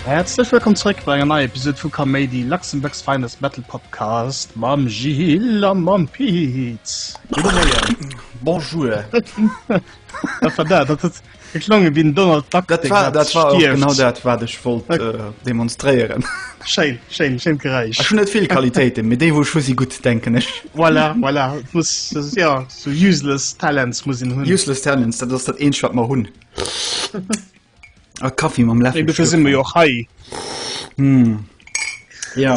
Häerzlech wëllkomm zréck bei enger neier Episode vu Kaméidi, Luxembourg's Finest Battle Podcast mam Gilles a mam Pete. Gudde Moien. Bonjour. Dat war dat, dat huet E klonge wéi den Donald Duck. Dat war, dat war genau dat wat ech wollt okay. äh, demonstréieren. Schein, schein, schein Geräisch. Ech hun net vill Qualitéiten, mé déi wo schu si gut denken ech. Voilà, voilà. Muss, das, ja, so useless Talents muss hin hunn. Useless Talents, dat ass dat een wat mer hunn. A Kaffee mam Läffel. Ebe sinn mir jo hei. Hm. Ja.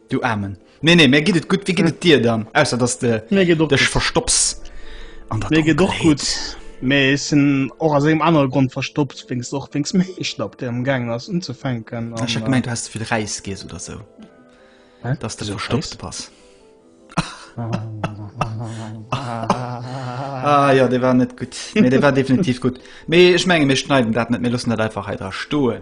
Du Aarmen. Nee, nee, mir geet et gutt. Wéi geet et dir dann? Ausser dass de Mir geet och dech gutt. verstopps an der Mir geet och Donkelheet. gutt. Mee ech sinn och aus engem anere Grond verstoppt, wéinst och wéinst meng Schlapp, déi am gaangen ass unzefänken. Ech hab gemeint, du häss ze vill Räis giess oder sou, Hä? dass de Wieso verstoppt bass. Ah jo, dee war net gutt. Mee dee war definitiv gutt. Mee ech menge mir schneiden dat net, mir loossen dat einfach hei dra stoen.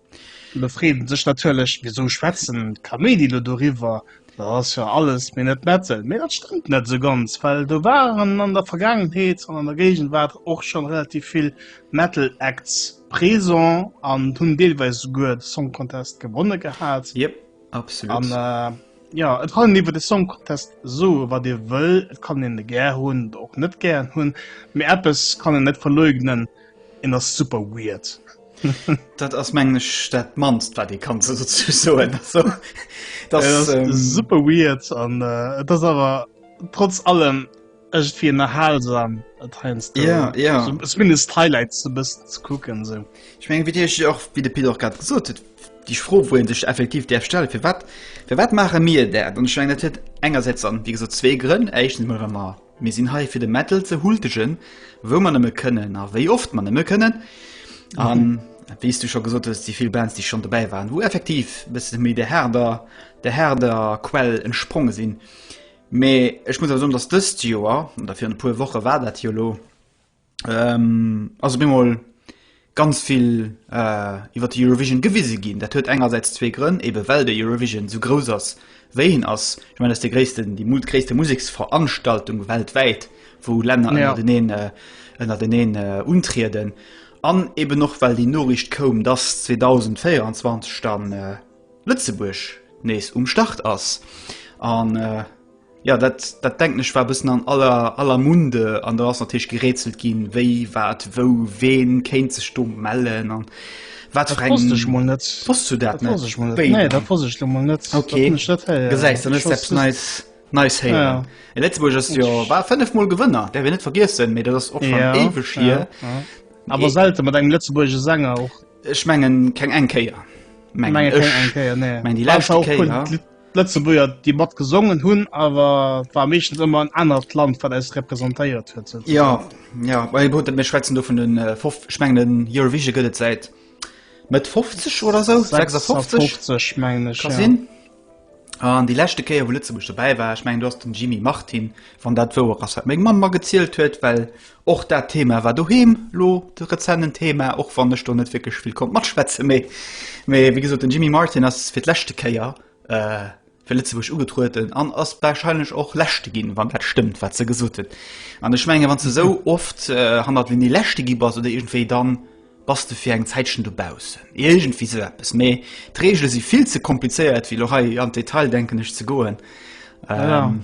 Mir freeën sech natierlech, wisou schwätzen d'Kaméidi lo doriwwer, dat ass jo alles, mee net Metal. Mee dat stëmmt net esou ganz, well do waren an der Vergaangenheet an an der Géigenwaart och scho relativ vill Metal Acts présent an hunn deelweis esouguer de Song Contest gewonne gehat. Yep, absolut. An jo, et kann een iwwer de Song Contest soe wat ee wëll, et kann een e gär hunn oder och net gären hunn, mee eppes kann een net verleugnen, En ass super weird. dat ass mengen ech dat manst wat de kann ze soen so, das, ja, das ähm, super weird an äh, das aber trotz allem echt wie erhalsam ja, ja. So, zumindest highlights du bist zu gucken so. ich mein, wie ich auch wie de Peter gerade gesucht hat die froh wo sich effektiv der stelle für wat für wat mache mir der und schwingt engerseits an wie so zwei Gründe echt immer Mir sinn hei fir de Metal ze hultegen, wou mer nëmme kënnen a wéi oft mer nëmme kënnen. An mhm. wéi du schon gesot hues, déi vill Bands, déi schon dobäi waren, wou effektiv bëssen méi de Herder, de Herder Quell entspronge sinn. Mee ech muss awer soen, datt dëst Joer, oder fir e puer Woche war dat jo lo, ähm, also bemol ganz viel äh, iwwer die Eurovision gewisse gin dat huet engerseits zwee Grënn eben well der Eurovision so groß ass wéin ass ich mein das der gréessten die mutgréste Musiksveranstaltung weltweit wo Länder ja. den een, äh, den een äh, untrieden an eben noch well die Norricht koum dass 2024 dann äh, Lützeburg nees um Start ass an äh, Jo, dat, dat denken ech war e bëssen an aller, aller Munde an do ass natierlech gerätselt ginn, wéi, wat, wou, ween kéint sech do mellen an wat fir eng. Dat wosst ech mol net. Wosst du dat net? Dat wosst ech mol net. Nee, dat wosst ech lo mol net. Okay. Gesäis, dann ass eppes Neis, Neis héieren. Ja. E Lëtzebuerg ass jo, war fënnef Mol Gewënner, däerf een net vergiessen, mee dat ass och schon ja. éiweg hier. Ja. Ja. Awer selte mat engem Lëtzebuerge Sänger och. Ech mengen keng eng Kéier. Mengen ech. Eng Kéier, nee. Mengen déi lescht Kéier. D'Lëtzebuerger déi mat gesongen hunn awer war meeschtens ëmmer en anert Land wat eis representéiert huet souzesoen. Jo, jo, well gutt, mir schwätzen do vun den fof, ech mengen den Eurovision gëtt et säit Mëtt 50 oder esou, 56? 56 mengen ech, Ka ja. sinn. An déi leschte Kéier wou Lëtzebuerg dobäi war, ech mengen do ass den Jimmy Martin, wann dat wouer ass wat meng Mamm magezielt huet, well Och dat Thema war doheem lo de rezenten Thema, och wann ech do net wierklech vill konnt matschwätze méi. Mee wéi gesot, den Jimmy Martin ass fir d'leschte Kéier äh, fir Lëtzebuerg ugetrueden an ass warscheinlech och Leschte ginn, wann dat stëmmt, wat se gesot hunn. An ech menge wann s de esou oft äh, hannert Venue Leschte gi bass oder iergendwéi, dann bass de fir eng Zäitchen dobaussen. Iergendwéi sou eppes. Mee d'Reegele si vill ze komplizéiert, fir lo hei an d'Detail, denken ech, ze goen. Ähm,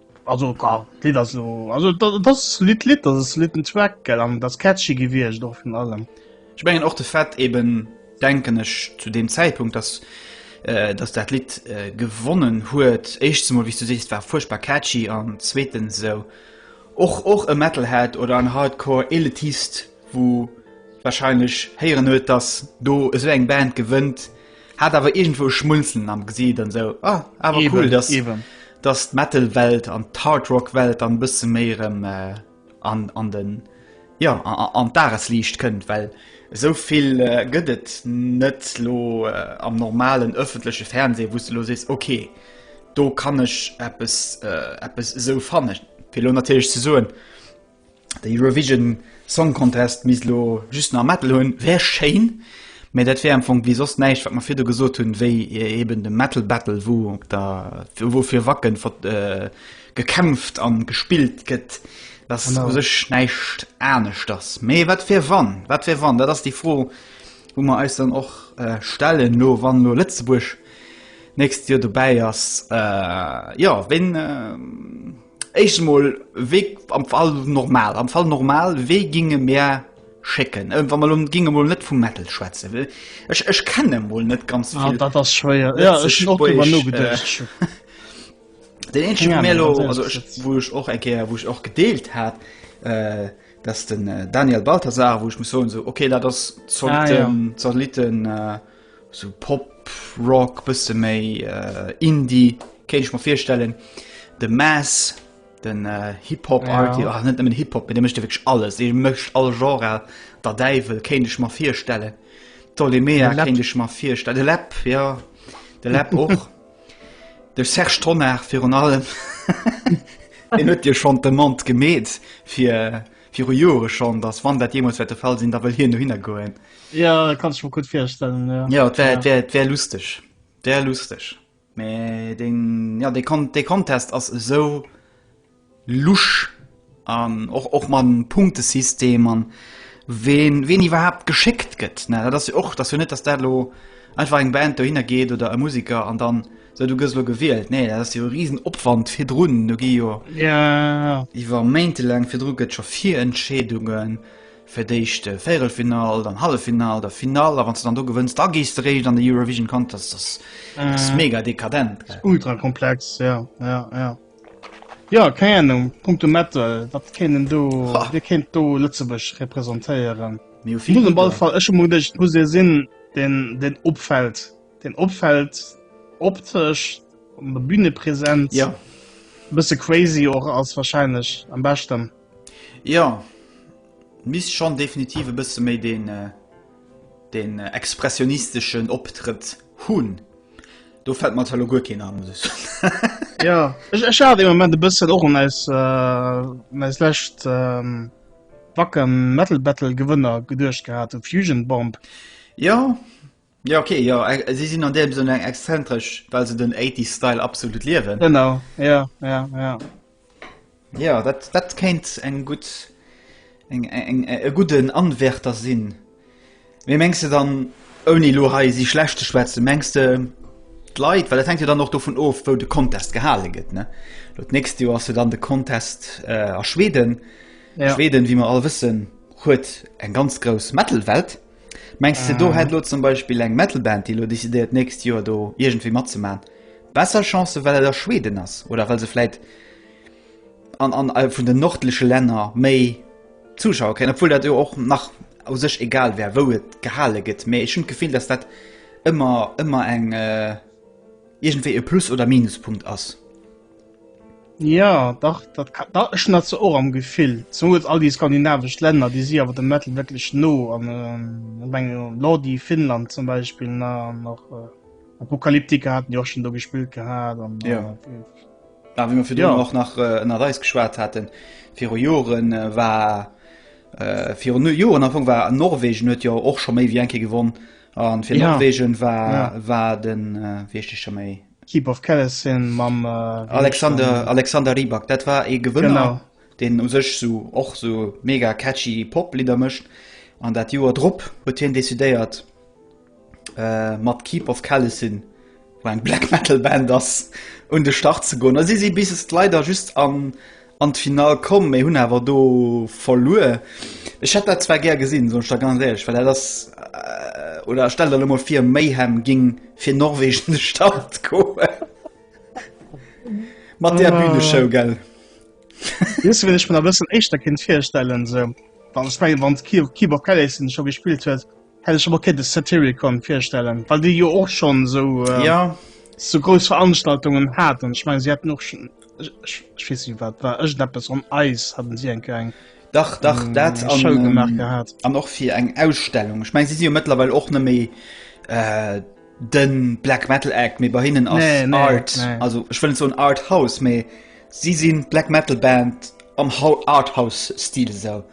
Also klar, d'Lidd ass lo, also dat ass solidd Lidd, dat ass soliden Track, gell, an dat ass catchy gewiescht och virun allem. Ech mengen och de Fait eben, denken ech, zu deem Zäitpunkt, dass äh, dass dat Lidd äh, gewonnen huet, éischtens emol, wéi s du sees, war fuerchtbar catchy an zweetens esou och och e Metalhead oder en Hardcore Elitist, wou wahrscheinlech héieren huet, dass do esou eng Band gewënnt, Hat awer iergendwou e Schmunzeln am Gesiit an esou, ah, awer cool, dass, dass d'Metal-Welt an d'Hard-Rock-Welt dann e bësse méi erëm an, an den, jo, an d'Dagesliicht kënnt, well esou vill gëtt et net elo am normalen ëffentleche Fernseh, wou s de elo sees, okay, do kann ech eppes, eppes esou fannen. Fir elo natierlech ze soen. De Eurovision Song Contest misst elo just nach e Mettel hunn. Wär schéin, mä dat wär am Fong wéi soss näischt, wat mer virdu gesot hunn, wéi eben de Metal Battle, wou op der, wou fir Wacken gekämpft a gespillt gëtt, wat u sech näischt anescht ass. Mä wat wär wann? Wat wär wann? Dat ass déi Fro, wou mer eis dann och stellen elo, wann elo Lëtzebuerg d'nächst Joer dobäi ass. Jo, wéin. Éischt emol, wéi am Fall normal, am Fall normal, wéi ginge mär schécken, wa mer elo ginge mol net vum Metal schwätzen, well ech, ech kenne mol net ganz vill. Ah, dat ass schwéier. Ja, ech hunn och driwwer nogeduecht. Den eenzegen, dee mir elo, also ech, wou ech och eng Kéier, wou ech och gedeelt hat, dat ass den Daniel Balthasar, wou ech muss soen, esou, okay, dat ass Satellitten, Satellitten. Sou Pop, Rock, bësse méi Indie kéint ech mer virstellen. De Mass, den Hip-Hop Art, jo net nëmmen Hip-Hop, mee dee mécht jo wierklech alles. Dee mécht all Genre der Däiwel, kéint ech mer virstellen. D'Dolemea kéint ech mer virstellen. De Läpp, jo, de Läpp och. De Serge Tonnar virun allem. Deen huet jo schonn d'Demande gemeet viru Jore schonn, datt wann dat jeemools wäert de Fall sinn, da wëll hien dohinner goen. Ja kann ich mir gut firstellen ja. Ja et wär, wär, wär lustig wär lustig Me den ja de kon de Contest ass eso lusch an och och man Punktesystem an wen wen iwwerhaupt geschickt gëtt ne dat ass och dat hun net das dat lo einfach eng Band do hinner geht oder e Musiker an dann so du gëss lo gewielt nee dat ass jo riesen opwand fir runen du gi jo ja iwwer méinteläng fir Druck gëtt scho fir Entschädungen fir d'éischt Véirelfinall, dann Halleffinall, da Finall, a wann s de dann do gewënns, da gees de réischt an de Eurovision Contest. Ass ass mega dekadent, gell. Ultra komplex, jo, jo, jo. Jo, keng Ahnung, punkto Metal, wat kéint een do, wie kéint do Lëtzebuerg representéieren? Mir hu vill Gruppen. Ech hu mer geduecht, et muss ee sinn, deen, deen opfält, deen opfält optesch, an der Bühnepresenz, e bësse crazy och ass, warscheinlech am beschten. Jo, misst schon definitiv e bësse méi den den expressionisteschen Optrëtt hunn. Do fällt mer elo guer keen an muss ech soen. Jo, ech haat ee Moment e bëssen och un eis un eis lescht Wacken Metal Battle Gewënner geduecht gehaat, u Fusion Bomb. Jo. Jo ok, jo si sinn an deem Sënn eng exzentresch, well se den 80s Style absolut liewen. Genau, jo, jo, jo. Jo, dat, dat kéint eng gutt, eng, eng, e gudden Anwärter sinn. Mee mengs de dann, ouni elo hei si schlecht ze schwätzen, mengs de d'Leit, well dat hänkt jo dann och dovun of, wou de Contest gehale gëtt, ne? Elo d'nächst Joer ass jo dann de Contest a Schweden. Schweden, wéi mer all wëssen, huet eng ganz grouss Metal-Welt. Mengs de, do hätt elo zum Beispill eng Metal-Band, déi elo decidéiert, d'nächst Joer do iergendwéi matzemaachen, besser Chancen, well et a Schweden ass oder well se vläit an, an äh, vun den nordleche Länner méi Zuschauer kréien, obwuel dat jo och nach u sech egal wär, wou et gehale gëtt. Mee ech hunn d'Gefill, dass dat ëmmer, ëmmer eng, äh, iergendwéi e Plus oder Minuspunkt ass. Ja, dach, dat ka- da ech dat ze och am Gefill. Zum Beispiel all die skandinavesch Länder, die si awer dem Metal wirklich no an ähm, ich meine, Lordi, Finnland zum Beispiel, na, an noch äh, Apocalyptica hatten die auch schon do gespielt gehabt. An, Ja. äh, Ja, wie man fir Ja. ja. och nach äh, ënner Reis geschwat hatten viru Joren äh, war äh, vir nu Joren anfang war an Norwegen huet ja och schon méi wie enke gewonnen an fir Ja. ja. Norwegen war Ja. ja. war den äh, wiechtescher méi Keep of Kellis sinn mam äh, Alexander, Alexander Rybak. Dat war e Gewënner, genau. den u sech so och so mega catchy Poplieder mëscht. An dat Joer drop huet hien decidéiert äh, mat Keep of Kellis sinn, wo eng Black Metal Band ass un de Start ze goen. si si bis leider just an an d'Final komm, mee hunn awer do verluer. Ech hätt dat zwar gär gesinn, soen ech der ganz éierlech, well dat ass, oder stell der emol vir, Mayhem géing fir Norwegen un de Start goen. Mat där Büneshow, gell? Wéisst du, wien ech mer nach e bëssen éischter kéint virstellen, esou, wann, ech mengen, wann d'Key of Keyboard Karaoke scho gespillt huet, Hätt ech mer kéinte Satyricon virstellen, well déi jo och schonn esou äh, ja. esou grouss Veranstaltungen haten. Ech meng si hätten och schon, ech, ech, ech weess net wat war ëschteppes on Eis hatten si eng eng Dach dach mm, dat an, Show gemacht gehat. An och fir eng Ausstellung. Ech meng si si jo mëttlerweil och net méi. Äh, den Black Metal Act méi bei hinnen ass nee, nee, Art nee. also ech wëllen so un Art House méi si sinn Black Metal Band am Arthouse Stil esou.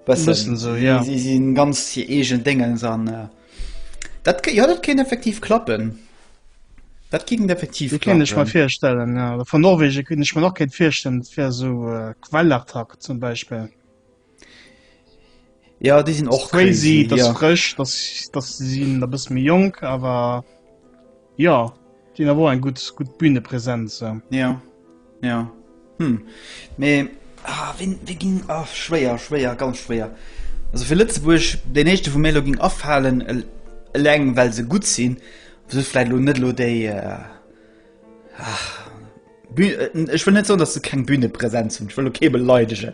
Bëssen esou, jo. Si si ganz hir eegen Déngens an dat kéint, jo, dat kéint effektiv klappen. Dat kéint effektiv klappen. Dat kéint ech mer virstellen, jo. Oder vun Norwegen kéint ech mer och kéint virstellen, dat wär esou Kvelertak zum Beispill. Jo, déi sinn och crazy. Dat ass frësch, dat si sinn e bësse méi jonk, awer. Ja, Dien awer och eng gutt gutt Bühnepräsenz. Ja, ja. Hm. Mee ah, wien, wien ging ah, schwéier, schwéier, ganz schwéier. Also fir Lëtzebuerg den echte vu Melo ging afalen eleng well se gutt sinn vielleicht lo net lo déi äh, ach, Äh, ich will net so dass du kein bühne präsenz und ich will okay beleidegen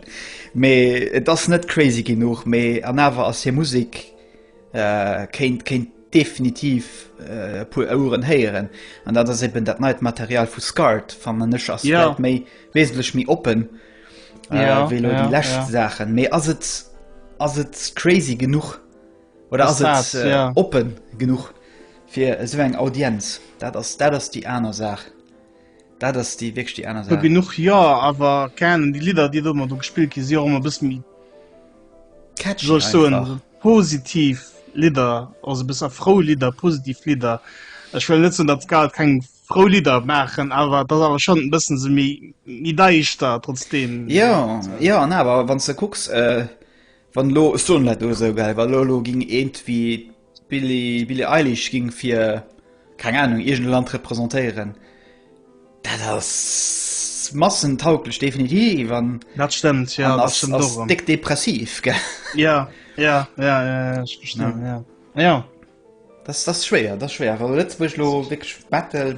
me das net crazy genug me an aber as hier musik Kéint definitiv e puer Oueren héieren. An dat ass eben dat neit Material vu Scart fannen ech ass yeah. méi wesentlech méi oppen äh, yeah, wéi yeah, die lächt yeah. Saachen. Mee ass et ass et crazy genug oder ass et äh, yeah. oppen genug fir esou eng Audienz? Dat ass dat ass die aner Saach. Dat ass déi wéckeg déi aner Saach. Genuch jo, awer kennen déi Lidder, déi domat do gespillt gi si och ëmmer bëss méi Catchy soll ech soen, einfach. positiv Lidder, also besser frou Lidder, positiv Lidder. Ech wëll net soen, datt Skat keng frou Lidder maachen, awer et ass awer schonn e bëssen esou méi méi daischter trotzdeem. Jo, jo an awer wann s de kucks, wann elo, ech soen dat elo esou, well elo elo géing iergendwéi D'Billie Eilish ging fir keng Ahnung iergend e Land representéieren. Dat ass massentauglech definitiv an dat stëmmt ja ass déck depressiv ge ja ja ja ja ech verstinn ja ja das das schwéier das schwéier well Lëtzebuerg lo wéck Metal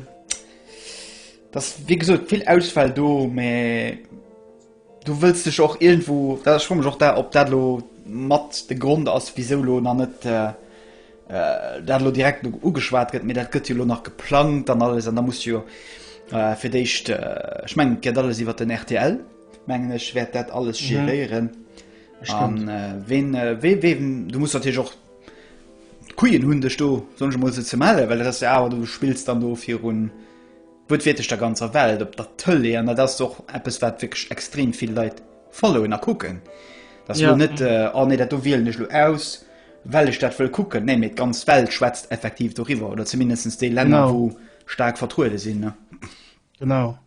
das wéi gesot vill Auswahl do mä. Du wëlls dech och iergendwou, well ech froe mech och dat, ob dat elo mat de Grond ass, wisou elo nach net dat elo direkt elo ugeschwat gëtt, mee dat gëtt jo elo nach geplangt an alles an da muss jo fir d'éischt, ech mengen et geet alles iwwer den rtl, mengen ech, wäert dat alles geréieren an ween, wee, wee, du muss natierlech och d'Quien hunn, dech do, soen ech emol esou, ze mellen, well dat ass jo awer, du spills dann do virun. Gutt wierklech der ganzer Welt op der Tëlee an dat ass och eppes wat wierklech extrem vill Leit followen a kucken. Dat ass elo net yeah. äh, oh nee, dat do wielen ech lo aus, well ech dat wëll kucken. Nee, mee d'ganz Welt schwätzt effektiv doriwwer oder zumindest déi Länner, genau. wou stark vertruede sinn. Ne? Genau.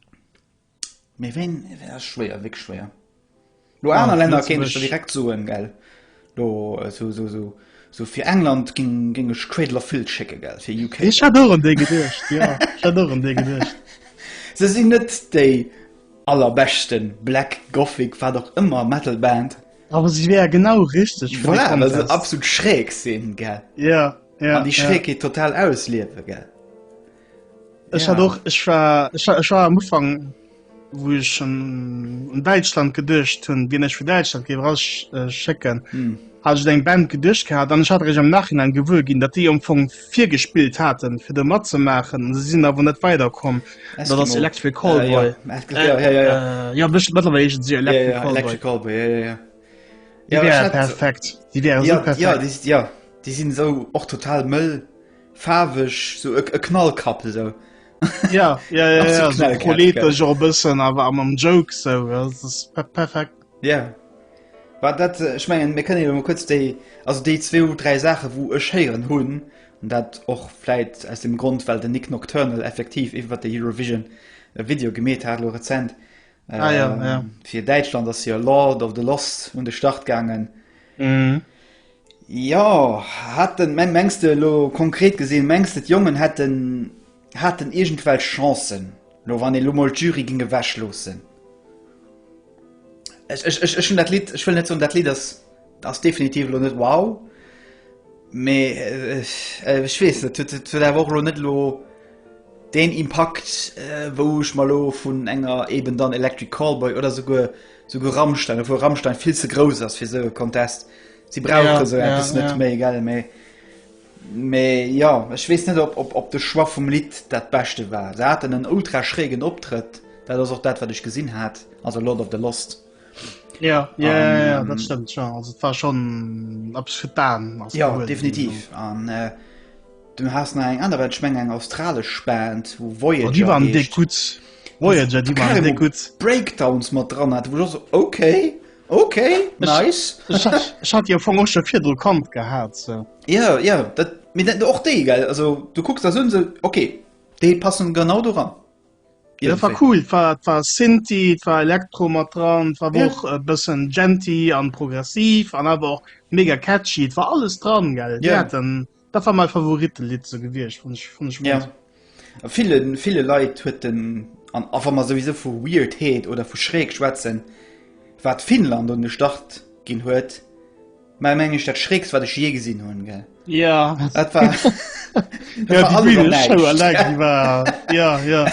Mee wéin, wéin ass schwéier, wéck schwéier. Lo aner ja, Länner kéint ech direkt soen gell Lo äh, so, so, so, so fir England ging, ging ech Cradler Phil schicke gell fir UK Ech hat an dee gedcht ja. an dee gedcht Se sinn net déi allerbechten Black Gothic war doch ëmmer Metalband. Aber sie wär genau richtig voilà, absolut schräg sinn gell ja, ja, die Schrägkeet ja. total ausliewe gell. Ech hat och ech war ech war am Ufang wo ech an um, Deitschland geduercht hunn, Dir ech fir Deitschland géif rasch äh, schécken. Mm. Hat ech eng Band geduercht gehabt, an ech hat ech am Nachhinein gewuer ginn, datt déi am Fong virgespillt haten, fir de mat ze maachen. Se sinn awer net weiderkomm. Dat ass Electric Callboy. Uh, ja, ja, ja, ja, ja. Uh, äh, ja bëscht mëttlerweile se Electric ja, ja, Callboy. Electric Callboy, ja, ja, ja. Déi ja, wäre perfekt. Déi wäre ja, so perfekt. Ja, déi, ja, déi sinn so och total mëll. Faarweg so e Knallkapp esou. Ja ja ja, ja so politesch och bëssen awer am am Joke sou perfekt. Ja yeah. War dat ech mengen mé kënne jo kurz déi ass déi zwee ou dräi Saache wou e schéieren hunn an dat och fläit aus dem Grund well de Nick Nocturnal effektiv iwwer de Eurovision e Video gemet hat lo rezent. Äh, ah, ja, ähm, ja. fir Däitschland ass hier Lord of the Lost un de Start gangen. Mm. Jo, haten, mä mengs de elo konkret gesinn, mengs de d'Jongen hätten, haten iergendwelch Chancen elo, wann ee elo mol d'Jury géing ewech loossen? Ech, ech, ech, ech hunn dat Lidd, ech wëll net soen, dat Lidd ass, ass definitiv elo net wow, mä ech weess net, huet, huet awer och elo net elo deen Impakt, wou ech mer elo vun enger eben dann Electric Callboy oder souguer, souguer Rammstein, obwuel Rammstein vill ze grouss ass fir esou e Contest. Si brauche esou eppes net méi gell méi. Mee ja ech wees net op op op de Schwar vum Lidd dat beschte war. Se haten en ultra schrägen Optrëtt, dat ass och dat wat ech gesinn hat also Lord of the Lost. Ja, ja, ja, ja dat stëmmt schon also war schon abschitan ja cool. definitiv an äh, du hast na eng aner wat schmeng eng australesch spend wo wo oh, die waren de gut wo die waren de gut breakdowns mat dran hat wo okay Ok nice. Ech hat jo vum och scho virdru kommt gehat se. Ja ja dat mir dat och déi gell also du kucks da sinn se ok déi passen genau do ran. Ja, war cool war war Sinti war Elektro mat dran war ja. och e bëssen Genti an progressiv an awer och mega catchy war alles dran gell ja. den Dat war mei Favoritelidd sou gewiescht fun ech, fun ech gudd. Ja. A ville ville Leit huet den an a wa mer souwisou vu Weirdheet oder vu schräg schwätzen, wat Finnland un de Start ginn huet, mei meng ech dat schrägst wat ech jee gesinn hunn, gell? Ja. Dat war dat war alles an näischt. Show eleng déi war ja ja.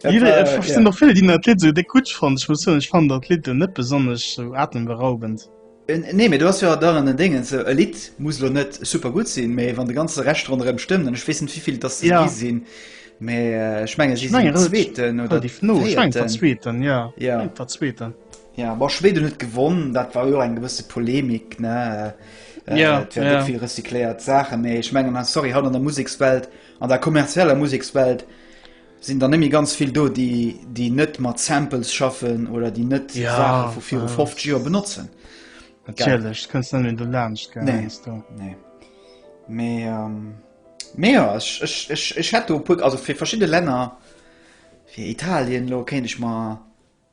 Dat Jidderee, war, et sinn ja. och vill déi dat Lidd sou déck gudd fannen. Ech muss soen ech fannen dat Lidd net besonnesch sou atemberaubend. Nee, mee do ass jo dann en Déngens, e Lidd muss lo net super gutt sinn, mee wann de ganze Rescht ronderëm stëmmt, an ech weess net wéivill et ass se gi sinn, mee ech menge si sinn den zweeten oder déi véierten. Ech menge den zweeten, jo, jo, den zweeten. Jo, ma Schweden huet gewonn, dat war jo eng gewësse Polemik, ne, et wären net vill recycléiert Saachen, mee ech menge, sorry, haut an der Musekswelt, an der kommerzieller Musekswelt, Sinn der net méi ganz vill do, déi déi net mat Samples schaffen oder déi net ja, Saache vu viru 50 Joer benotzen? Natierlech kënns net méi do laanscht gell? Nee, do. Nee. Mee ähm, mee ja, ech, ech, ech, ech hätt do e puer, also fir verschidde Länner, fir Italien lo kéint ech mer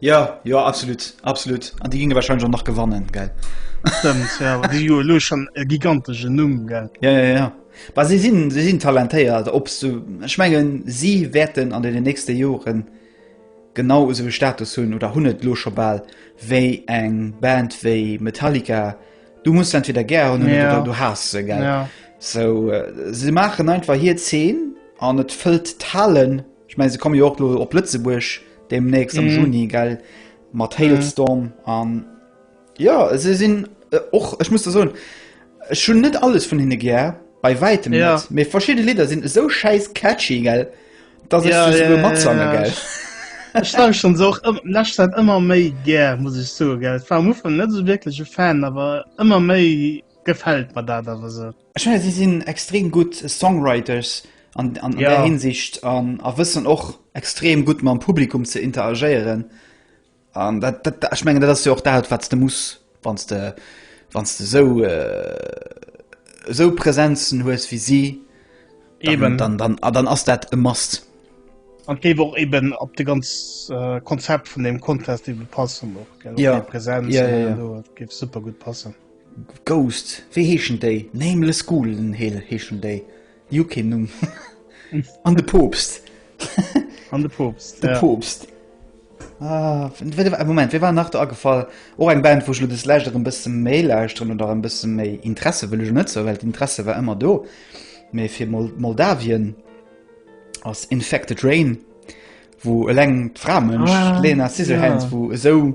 Jo, jo absolut absolut an déi ginge wahrscheinlech och nach gewannen gell. Stëmmt, ja, awer déi hu jo elo schonn e gigantesche Numm gell. Ja, ja, ja. Bah, si sinn si sinn talentéiert, ob s du, ech mengen si wäerten an deenen nächste Joren genau esou e Status hunn oder hunn et elo scho bal wéi eng Band wéi Metallica. Du muss se entweder gär hunn oder Ja. du haass se gell. Ja. So, äh, se maachen einfach hir Zeen an et fëllt d'Halen. Ech menge se komme jo och lo op Lëtzebuerg, Demnächst am Juni, gell? Mat Hailstorm an. Ja, se sinn äh, och, ech muss da soen, ech hun net alles vun hinne gär, bei wäitem Ja. net. Mee verschidde Lidder sinn esou schäiss catchy, gell? Dass ech se souguer matsange, gell? Ech lauscht schon so och ëm- lässt dat ëmmer méi gär, muss ich so gell. War am Ufang net so wirklich e Fan, aber ëmmer méi gefällt mir dat aber so. Ech fanne si sinn extrem gutt Songwriters an, an, an ja. der Hinsicht an a wëssen och extrem gutt mam Publikum ze interagéieren. An dat, dat, dat, ich mengen dat ass jo och dat wat de muss wann de wann de so äh, so Präsenzen hues wie si eben dann dann, ah, dann ass dat e mast. An géif och eben op de ganz äh, Konzept vun dem Contest iwwe passen och ja, Präsenz ja, ja, ja. gif super gut passen. Ghost, wéi heeschen déi? Nameless Ghoulen heeschen déi. Déi hu keen Numm. An de Poopst. An de Poopst. De Poopst. Ah, Moment, wéi war nach do agefall? Och eng Band, wou ech lo des Lescht erëm bësse méi lauschteren oder erëm bësse méi Interesse, wëll ech net sou, well d'Interesse war ëmmer do. Mee fir Moldawien ass Infected Rain, wou eleng d'Framënsch, d'Lena Scissorhands, wou esou.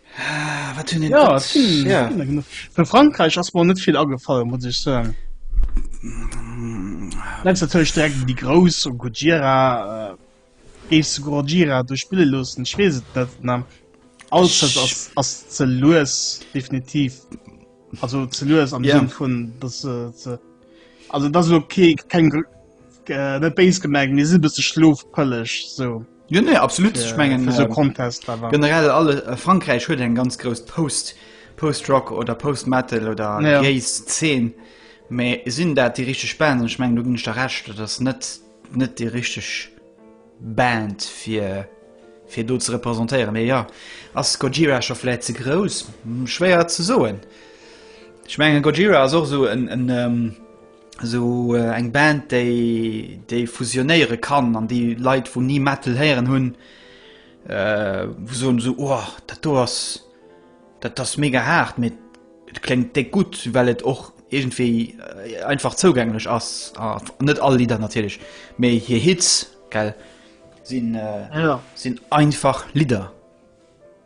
Vu Frankräich ass mer net vill agefall muss ech soen. Lens natierlech direkt déi grouss um Gojira géif se Gojira do spille loossen, ech weess et net an alles ass ze lues definitiv also ze lues am Sënn vun dass se ze also dass elo keng net béis gemengt mee si e bësse schlofpëlleg sou. Jo nee, absolut ich mengen äh, so ähm, Contest generell alle äh, Frankreich huet eng ganz groß Post Postrock oder Postmetal oder ja. Gaze 10 méi sinn dat die richtig Band ich meng du ginn der recht das net net die richtig Band fir fir do ze repräsentéieren méi ja ass Gojira schonläit ze groß hm, schwéier ze soen. Ich menge Gojira as och so en en ähm, Esou eng Band déi déi fusionéiere kann an déi Leit wou ni Metal héieren hunn äh, wou soen esou oh, dat do ass dat ass mega haart mee et kléngt déck gutt, well et och iergendwéi äh, einfach zougänglech ass. A net all Lidder natierlech, mee hir Hits gell sinn äh, Ja. sinn einfach Lidder.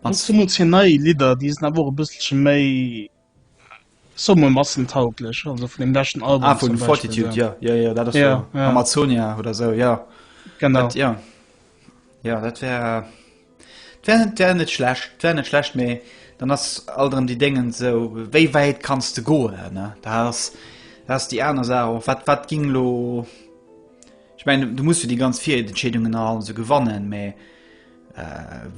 An An zumools hir nei Lidder, déi sinn awer och e bësselche méi Somme massentauglech, also vun dem leschten Album. Ah vun Fortitude, jo jo jo dat ass jo Amazonia oder esou jo. Genau jo jo dat wär dat wär net schlecht, dat wär net schlecht, mee dann ass alt erëm déi Déngen esou wéi wäit kanns de goen ne, dat ass dat ass déi aner Saach och wat wat géing elo, ech mengen du muss jo déi ganz Virentscheedungen a allem esou gewannen, mee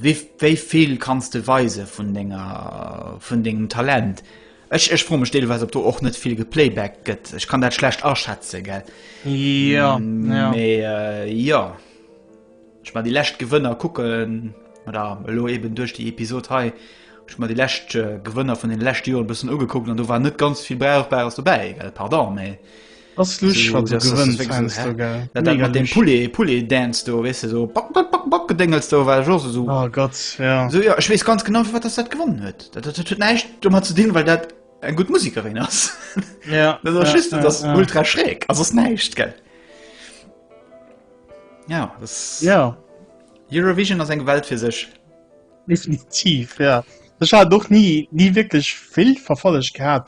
Wéi vill kanns de weise vun dengem Talent? Ech froe mech deelweis, ob do och net vill geplaybacked gëtt. Ech kann dat schlecht aschätzen. Jo, jo. Ech mein, déi lescht Gewënner kucken, oder elo eeben duerch déi Episod hei, ech mein, déi lescht Gewënner vun deene leschte Joren e bëssen ugekuckt an do war net ganz vill Brauchbares dobäi. Pardon, mä Ass lusch wat du gewënns heiansdo, gell? Mega lusch. Dat mat deem Poulet, Poulet Dance do, weess de, sou bak, bak, bak, bak Gedéngels do, war ech och esou. Oh Gott, ja. Sou, jo, ech weess ganz genau, firwat dass dat gewonnen huet. Dat huet näischt domat ze dinn, well dat eng gutt Musekerin ass. Ja. Dat ass just, dat ass ultra schräg a soss näischt, gell? Ja, dass. Ja. Eurovision ass eng Welt fir sech. Definitiv, ja. Ech hat och ni, ni wierklech vill verfollegt gehat,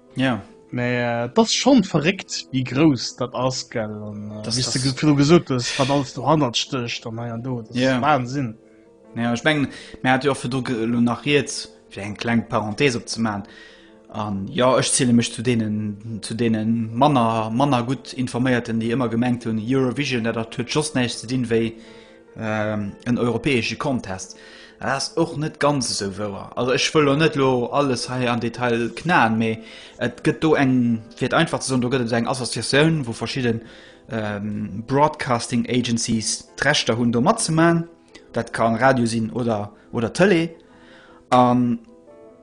Ja. Mä et ass schonn verréckt, wéi grouss dat ass, gell? An wéi s de virdru gesot hues, wat alles dohannert stécht an hei an do, dat ass Wahnsinn. Ja, ech mengen, mir hate jo och virdru elo nach riets, fir eng kleng Parenthese opzemaachen. An jo, ech ziele mech zu deenen, zu deene manner, manner gutt informéierten, déi ëmmer gemengt hunn, Eurovision, dat huet just näischt ze dinn, wéi en europäesche Contest. Dat ass och net ganz esou wouer. Also ech wëll lo net lo alles hei an Detail knaen, mee et gëtt do eng fir et einfach ze soen, do gëtt et eng Associatioun, wou verschidden ähm, Broadcasting Agencies d'Rechter hunn do matzemaen. Dat ka Radio sinn oder, oder Tele. An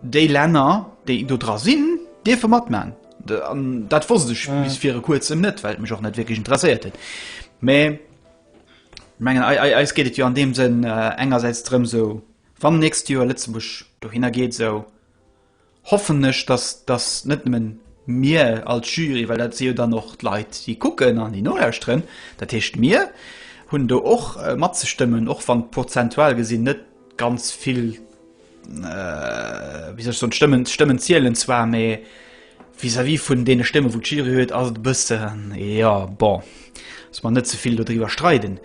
déi Länner, déi do dra sinn, dierfe matmaen. Dat wosst ech mm. bis fir e kuerzem net, well mech och net wierklech interesséiert huet. Mee Mengen eis geet et jo an deem Sënn engersäits drëm, esou wann nächst Joer Lëtzebuerg dohinner geet, esou hoffen ech, datt datt net nëmme mir als Jury, well dat si jo dann och d'Leit déi kucken an déi nolauschteren, dat heescht mir hunn do och matzestëmmen, och wann prozentual gesinn net ganz vill wéi soll ech soen, d'Stëmmen, d'Stëmmen zielen zwar, mä vis-à-vis vun deene Stëmmen, wou d'Jury huet, ass et e bëssen, jo, bon, dass mer net ze vill dodriwwer streiden.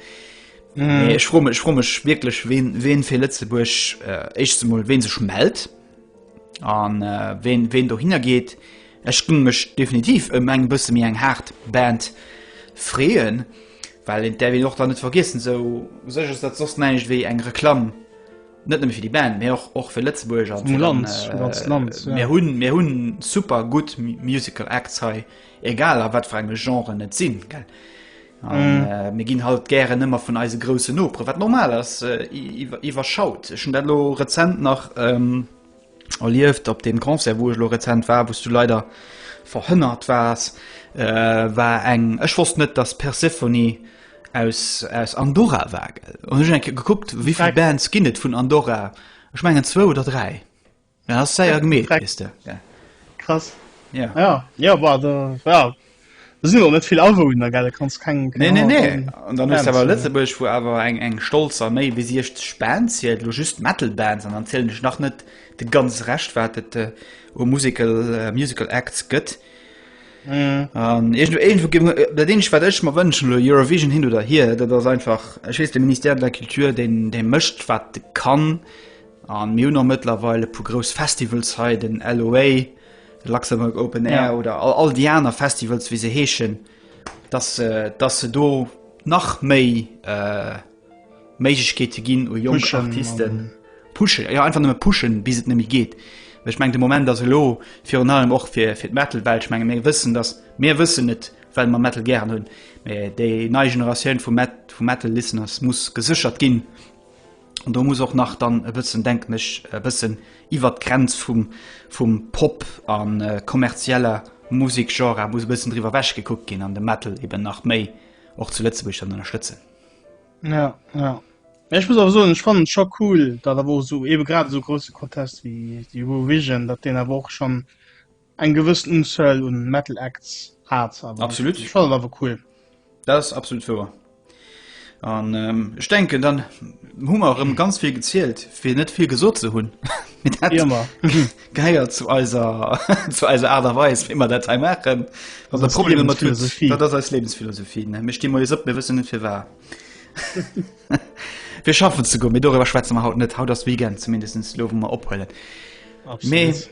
Mä ech froe mech, ech froe mech wierklech, ween, ween fir Lëtzebuerg, éischtens emol, ween sech mellt an ween, ween dohinner geet. Ech géing mech definitiv ëm eng bësse méi eng haart Band freeën, well et däerf een och dann net vergiessen, esou u sech ass dat soss näischt wéi eng Reklamm net nëmme fir déi Band, mee och och fir Lëtzebuerg an fir Land, äh, ganz Land. Ja. Mir hunn mir hunn super gutt Musical Acts hei, egal a wat fir enge Genren net sinn gell. An, mm. äh, mir ginn halt gären ëmmer vun eise grouse Nopre, wat normal ass äh, iwwerschaut. Ech hun dat lo rezent nach. Ähm, erlieft op dem Concert wou ech lo rezent war, wous du leider verhënnert waars, war eng, ech wosst net dass Persephone aus aus Andorra war gell, hunn ech eng Kéier gekuckt wéivill Bands ginn et vun Andorra, ech mengen zwou oder dräi, dat ass séier gemeet weess de. Krass. Jo. Jo, jo, bah, da, jo. Do sinn och net vill Awunner, gell? Du kanns keng. Nee, nee, nee. An dann hues de awer Lëtzebuerg, wou awer eng, eng stolz a méi wéi 60 Bands hier, elo just Metal Bands, an dann zielen ech nach net de ganz Rescht, wat et u Musical, Musical Acts gëtt. An iergendwou, iergendwou ginn mer, dat eenzegt, wat ech mer wënschen elo, Eurovision hin oder hier, dat ass einfach, ech weess, de Ministère de la Culture, deen, dee mécht, wat e kann. A mir hunn och mëttlerweil e puer grouss Festivals hei, den LOA, Luxembourg Open Air ja. oder all, all die aner Festivals wie se heeschen, dass, äh, dass se do nach méi äh, Méigkeete ginn u Jong Artisten pushen ja einfach nëmme pushen bis et nemmi geht. Ech meng de Moment as lo fir un allem och fir fir d Metalwelt menge méi wëssen, dass mé wëssen net well man Metal gern hunn. déi nei Generatioun vu Met vu Metal Listeners muss gesichert ginn. an do muss och nach dann e bëssen denken ech e bëssen iwwer d'Grenz vum vum Pop an äh, kommerzieller Musikgenre muss e bëssen driwwer wäch gekuckt ginn an de Metal eben nach méi och zu Lëtzebuerg dann ënnerstëtzen. Ja, ja. Ja, ich muss aber so ich fand schon cool da da wo so eben gerade so große Contest wie die Eurovision dat den aber auch schon Eng gewëssen Unzuel un Metal Acts hat awer. Absolut. Ech fand et awer cool. Dat ass absolut wouer. An ähm, ech denken dann hu mer rëm ganz vill gezielt fir net vill gesot ze hunn. Mit dat Immer. geiert zu eiser zu eiser Aart a Weis wéi mer dat hei maachen. Wat der ist Problem mat tut, Lebensphilosophie. dat ass eis Lebensphilosophie. ne? Mir sti moies op, mir wëssen net fir war. Fir schaffen ze goen, mee dorëwer schwätze mer haut net. Haut ass Weekend zumindest lo wou mer ophuelen. Mee Absolut.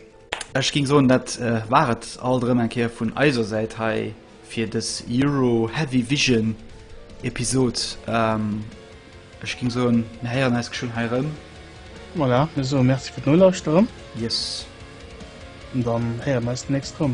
Ech ging soen dat war et alt erëm eng Kéier vun eiser Säit hei fir des Euro Heavy Vision Episode. Ech ging soen mir héieren eis geschwënn hei erëm. Voilà, mir soe Merci fir d'Nolauschteren. Yes. An dann héiere mir eis d'nächst erëm.